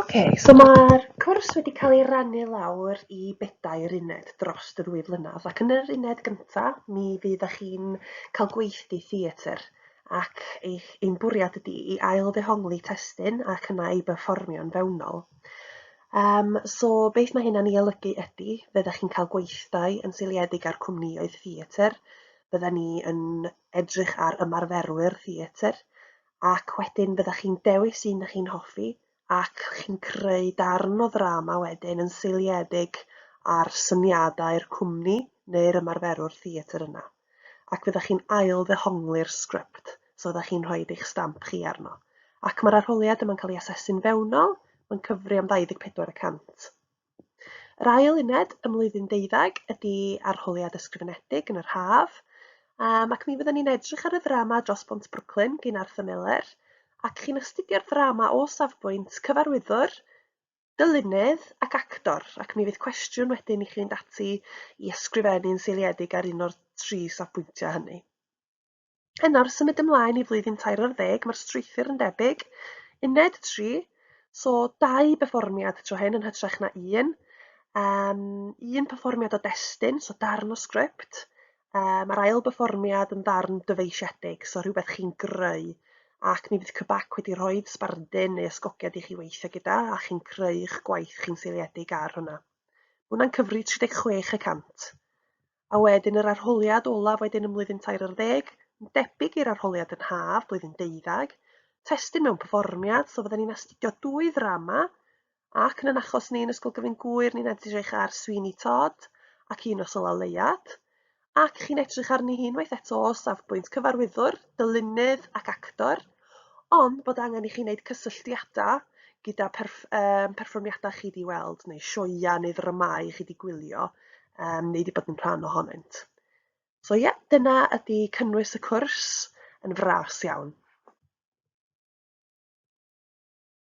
OK, so mae'r cwrs wedi cael ei rannu lawr i bedair uned dros y ddwy flynedd ac yn yr uned gyntaf mi fydd â chi'n cael gweithdy theatr ac eich ein bwriad ydy i ail ddehongli testyn ac yna ei berfformio'n fewnol. Um, so beth mae hynna'n ei olygu ydy, fe ydych chi'n cael gweithdai yn seiliedig ar cwmnïoedd theatr bydden ni yn edrych ar ymarferwyr theatr ac wedyn byddech chi'n dewis un ych chi'n hoffi ac chi'n creu darn o ddrama wedyn yn seiliedig ar syniadau'r cwmni neu'r ymarferwr theatr yna. Ac fyddech chi'n ail ddehongli'r sgript, so fyddech chi'n rhoi eich stamp chi arno. Ac mae'r arholiad yma'n cael ei asesu'n fewnol, mae'n cyfri am 24 y cant. Yr ail uned ym mlwyddyn ddeuddeg ydy arholiad ysgrifenedig yn yr haf, um, ac mi fyddwn ni'n edrych ar y ddrama dros Bont Brooklyn gyn Arthur Miller, ac chi'n astudio'r ddrama o safbwynt cyfarwyddwr, dylunydd ac actor, ac mi fydd cwestiwn wedyn i chi fynd ati i ysgrifennu'n seiliedig ar un o'r tri safbwyntiau hynny. Yn nawr symud ymlaen i flwyddyn tair ar ddeg, mae'r strwythur yn debyg. Uned 3, so dau berfformiad tro hyn yn hytrach na un. Um, un perfformiad o destun, so darn o sgript. Um, a'r ail berfformiad yn ddarn dyfeisiedig, so rhywbeth chi'n greu. Ac mi fydd Cybac wedi rhoi sbardun neu ysgogiad i chi weithio gyda a chi'n creu'ch gwaith chi'n seiliedig ar hwnna. Mae hwnna'n cyfri 36 y cant. A wedyn yr arholiad olaf wedyn yn mlwyddyn tair ar ddeg, yn debyg i'r arholiad yn haf, blwyddyn deuddag, testyn mewn perfformiad, so fydden ni'n astudio dwy ddrama, ac yn yn achos ni yn Ysgol Gyfyn Gŵyr, ni'n edrych ar Sweeney Todd ac un o Sola Leiad, ac chi'n edrych arni hi unwaith eto o safbwynt cyfarwyddwr, dylunydd ac actor, Ond bod angen i chi wneud cysylltiadau gyda perff- um, perfformiadau chi wedi weld, neu sioia neu ddramau chi wedi gwylio, um, neu wedi bod yn rhan ohonynt. So ie, yeah, dyna ydy cynnwys y cwrs yn fras iawn.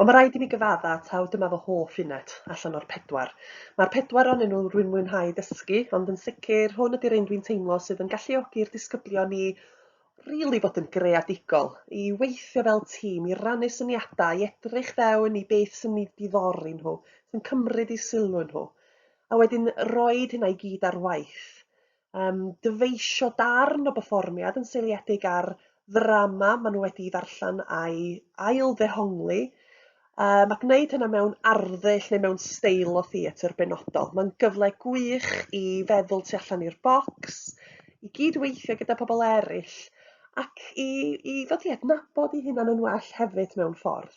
Wel, mae rhaid i mi gyfadda, taw dyma fy hoff unet allan o'r pedwar. Mae'r pedwar onyn nhw rwy'n mwynhau dysgu, ond yn sicr, hwn ydy'r un dwi'n teimlo sydd yn galluogi'r disgyblion i rili fod yn greadigol, i weithio fel tîm, i rannu syniadau, i edrych fewn i beth sy'n eu diddori nhw, sy'n cymryd eu sylw nhw, a wedyn roed hynna i gyd ar waith. um, dyfeisio darn o berfformiad yn seiliedig ar ddrama maen nhw wedi ddarllen a'i ail ddehongli, um, a gwneud hynna mewn arddull neu mewn steil o theatr benodol. Mae'n gyfle gwych i feddwl tu allan i'r bocs, i gyd-weithio gyda pobl eraill, ac i, i ddod i adnabod i hunan yn well hefyd mewn ffordd.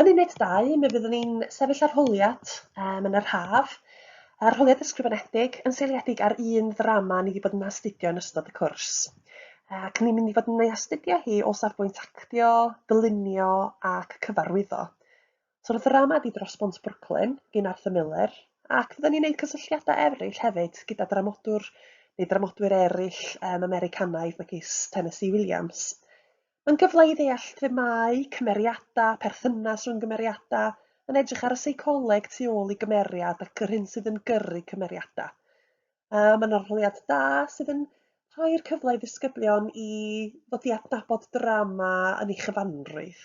Yn uned dau, mi fyddwn ni'n sefyll arholiad um, yn yr haf, arholiad ysgrifenedig yn seiliedig ar un ddrama ni wedi bod yn astudio yn ystod y cwrs. Ac ni'n mynd i fod yn ei astudio hi o safbwynt actio, dylunio ac cyfarwyddo. So'r ddrama di dros bont Brooklyn, gyn Arthur Miller, ac fydden ni'n gwneud cysylltiadau eraill hefyd gyda dramodwr neu dramodwyr eraill um, Americanaidd megis Tennessee Williams. Mae'n gyfle i ddeall themâu, cymeriadau, perthynas rhwng gymeriadau, yn edrych ar y seicoleg tu ôl i gymeriad ac yr hyn sydd yn gyrru cymeriadau. Uh, mae'n arholiad da sydd yn rhoi'r cyfle i ddisgyblion i ddod i adnabod drama yn ei chyfanrwydd.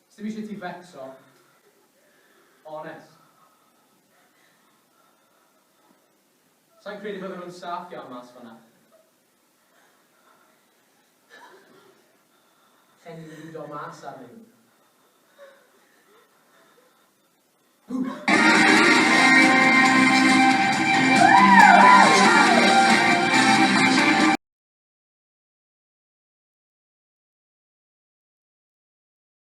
Sdim ishe ti fecso. Onest. Sai'n credu bydden nhw'n saff iawn mas fanna. Lle ni'n lido mas arnyn nhw.